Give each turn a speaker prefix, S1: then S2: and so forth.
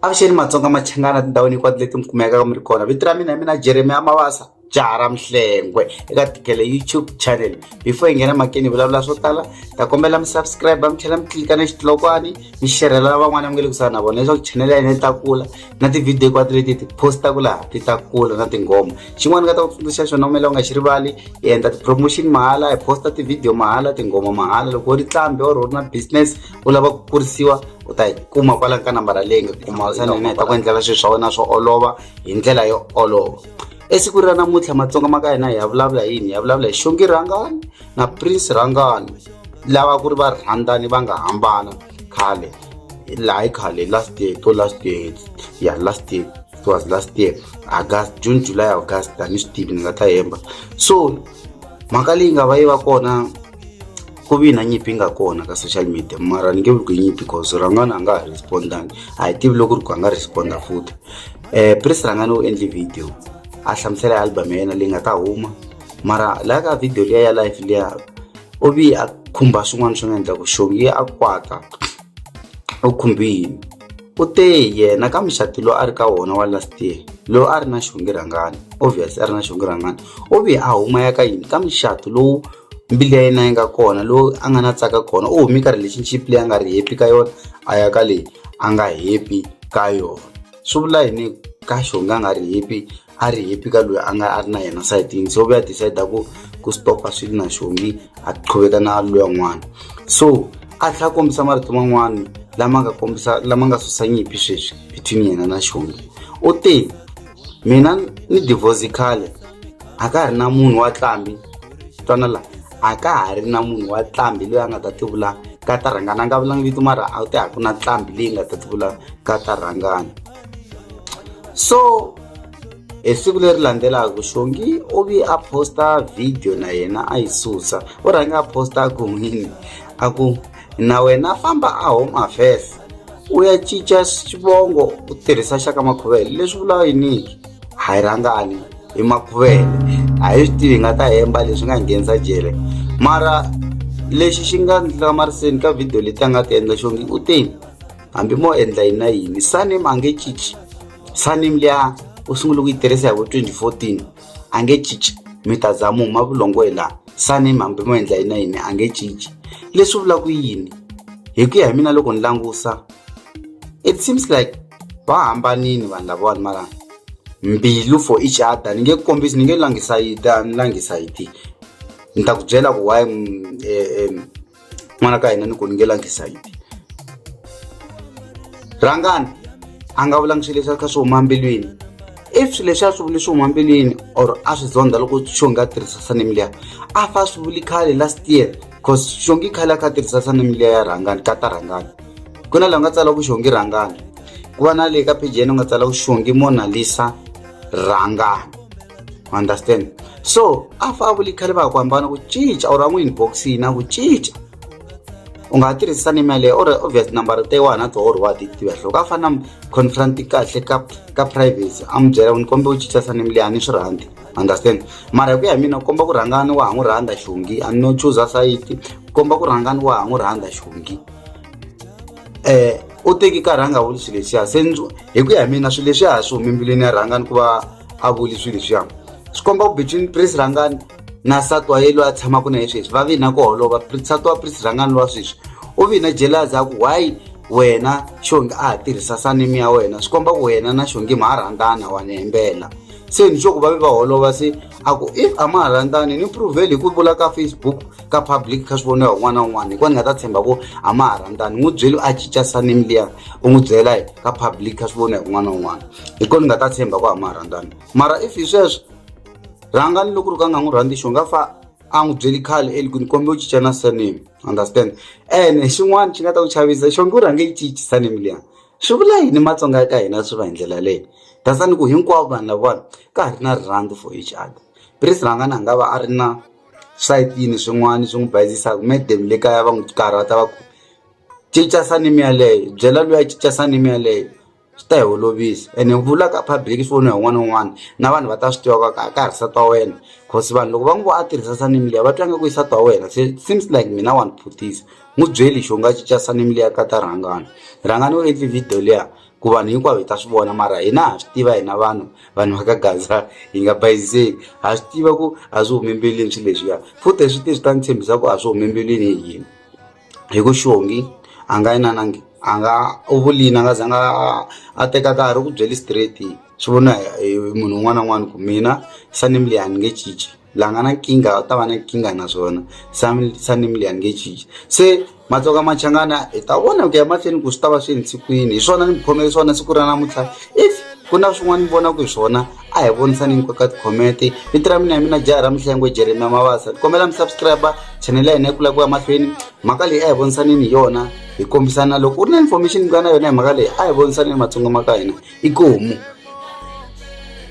S1: avuxeni matsonga machangana tindhawini hinkwato leti mi kumekaka mi ri kona vito ra mina hi mina jeremiya mavasa jaha ra mihlengwe eka tikele youtube channel before hi nghena makeni hi vulavula swo tala ta kombela mi subscribe mi tlhela mi tlilika na xitilokwani mi xerhela van'wana mi nge le kusuhani na vona leswaku chanel ya hina yi ta kula na tivhidiyo hinkwato leti ti postaka laha ti ta kula na tinghoma xin'wana nga ta ku tsundzuxa xona umela u nga xi rivali hi endla ti-promotion mahala hi posta tivhidiyo mahala tinghoma mahala loko u ri tlambi or u ri na business u lava ku kurisiwa u ta yi kuma kwala ka nambara leyi nga kuma sa nene hi ta ku endlela swilo swa wena swo olova hi ndlela yo olova esiku ra namuntlha matsonga ma ka hina hi ya vulavula yini hi ya vulavula hi xongi rhangani na prince rhangani lava ku ri va rhandzani va nga hambana khale laha hi khale last year to last year ya last year it was last year august june july august a ni swi tivi ni nga ta hemba so mhaka leyi nga va yi va kona ku vi na nyimpi nga kona ka social media mara ni nge vuli ku yi nyimpi cause rangani a nga ha respondangi a hi tivi loko ri ku a nga responda futhi um eh, pris rangani u endle video a hlamusela hi album ya yena leyi nga ta huma mara laha ka video liya ya life liya u vi a khumba swin'wana swi nga endla ku xongi yi a kwata u khumbi yini u te yena ka muxati lowu a ri ka wona wa last year lowu a ri na xongi rhangani obvious a ri na xongi rhangani u vi a huma ya ka yini ka muxati lowu mbili ya yena yi nga kona lowu a nga na tsaka kona u humi ka relationship leyi a nga ri happy ka yona a ya ka leyi a nga happy ka yona swi vula yini ka xongi a nga ri happy a ri happy ka loyi a nga a ri na yena sayitini so vuya decide ku ku stopa swilo na xongi a qhuveka na loya n'wana so a tlhela kombisa marito man'wana lama nga kombisa lama nga susa nyimpi sweswi between yena na xongi u te mina ni divorce khale a ka ha ri na munhu wa tlambi twana la a ka ha ri na munhu wa tlambi loyi a nga ta tivula ka tarhangana a nga vulanga vito mara a wu te a ku na tlambi leyi nga ta tivula ka tarhangana so hi siku leri landzelaka xongi u vi a posta video na yena a yi susa u rhange a posta a ku n'wini a ku na wena famba a home affairs u ya cinca xivongo u tirhisa xa ka makhuvele leswi vulaka yiniki a yi rhangani hi makhuvele a hi swi tivi hi nga ta hemba leswi nga nghenisa jele mara lexi xi nga ndzi hlamariseni ka video leti a nga ti endla xongi u tini hambi mo endla yini na yini saname a nge cinci saname liya u sungule ku yi tirhisa hi vo 2014 a nge cinci mi ta za mu huma vulongo hi laha saname hambi mo endla yini na yini a nge cinci leswi vula ku yini hi ku ya hi mina loko ni langusa it seems like va hambanini vanhu lavawani mara mbilu for each other ni nge kombisi ni nge langisa yi ta ni langisa yi ti ni ta ku byela ku why um, um, n'wana ka hina ni ku ni nge langi sayiti rhangani a nga vulangi swilo leswi a kha swi huma mbilwini if swilo leswi a swi vuli swi huma mbilwini or a swi zonda loko xo nga tirhisa sanem liya a fa swi vuli khale last year cause xongi khale a kha tirhisa sanem liya ya rhangani ka ta rhangani ku na laha nga tsala ku xongi rhangani ku va na leyi ka page yena u nga tsala ku xongi monalisa rhangani u understand so a fa vuli khale va ha ku hambana ku cinca or a n'wi inboxini na ku cinca u nga ha tirhisa ni mali or obvious number te wa na to or wa ti tiva hloko a fana confront kahle ka ka privacy a mi byela ni kombe u cinca sa ni mali a ni swi rhandzi understand mara hi ku ya hi mina u komba ku rhangani wa ha n'wi rhandza xungi a no chuza sayiti u komba ku rhangani wa ha n'wi rhandza xungi um u teki ka rhanga vuli swi leswiya se hi ku ya hi mina swi leswi a ha swi humi mbilwini ya rhangani ku va a vuli swi leswiya swi komba ku between prince rhangani na sati wa ye loyi a tshamaka na ye sweswi va vina ku holova sati wa prince rhangani lowa sweswi u vina jelas a ku why wena xongi a ha tirhisa sanimi ya wena swi komba ku wena na xongi ma ha rhandzana wa ni hembela se ni swo ku va ve va holova se a ku if a ma ha rhandzani ni pruveli hi ku vula ka facebook ka public kha swi voniwa un'wana na un'wana hikuva ni nga ta tshemba ku a ma ha rhandzani n'wi byeli a cinca sanimi liya u n'wi byela ka public kha swi voniwa un'wana na un'wana hi kona ni nga ta tshemba ku a ma ha rhandzani mara if hi sweswo rhanga ni loko ri ka nga n'wi rhandzi xo nga fa a n'wi byeli khale eli ku ni kombe u cinca na sanimi understand ene xin'wana xi nga ta ku chavisa xo nge u rhange yi cinci sanimi liya swi vula yini matsonga ya ka hina swi va hi ndlela leyi dasani ku hinkwavo vanhu lavawani ka ha ri na rirhandzu for each other prince rhangana a nga va a ri na swayitini swin'wana swi n'wi bayizisaka madam le kaya va n'wi karhata va ku cinca sanimi yaleyo byela loyi a cinca sanimi yaleyo swi ta hi olovisa ene vula ka public swi voniwa hi un'wana na un'wana na vanhu va ta swi tiva ka ka ha ri sati wa wena cause vanhu loko va n'wi vo a tirhisa sanimi liya va twa nga ku i sati wa wena se seems like mina wa ni phutisa n'wi byeli xo nga cinca surname liya ka ta rhangani rhangani u endli video liya ku vanhu hinkwavo hi ta swi vona mara hina ha swi tiva hina vanhu vanhu va ka gaza hi nga bayizeki ha swi tiva ku a swi humi mbilwini swilo leswiya futhi hi swi tivi swi ta ni tshembisa ku a swi humi mbilwini hi yini hi ku xongi a nga yi nanangi a nga u vulini a nga za nga a teka nkarhi u ku byeli straight swi vona hi munhu un'wana na un'wana ku mina surname leyi a ni nge cinci la nga na nkingha u ta va na nkingha naswona some suddenly a ni nge cinci se matsoka machangana hi ta vona ku ya mahlweni ku swi ta va swi entshikwini hi swona ni mi khomele swona siku ra namuntlha if ku na swin'wana ni vonaka hi swona a hi vonisani ni koka tikhomente vito ra mina ya mina jaha ra mihlengo jeremia mavasa ni kombela mi subscribe chanele ya hina yi kula ku ya mahlweni mhaka leyi a hi vonisaneni hi yona hi kombisana loko u ri na information yi nga na yona hi mhaka leyi a hi vonisaneni matsongo ma ka hina i komu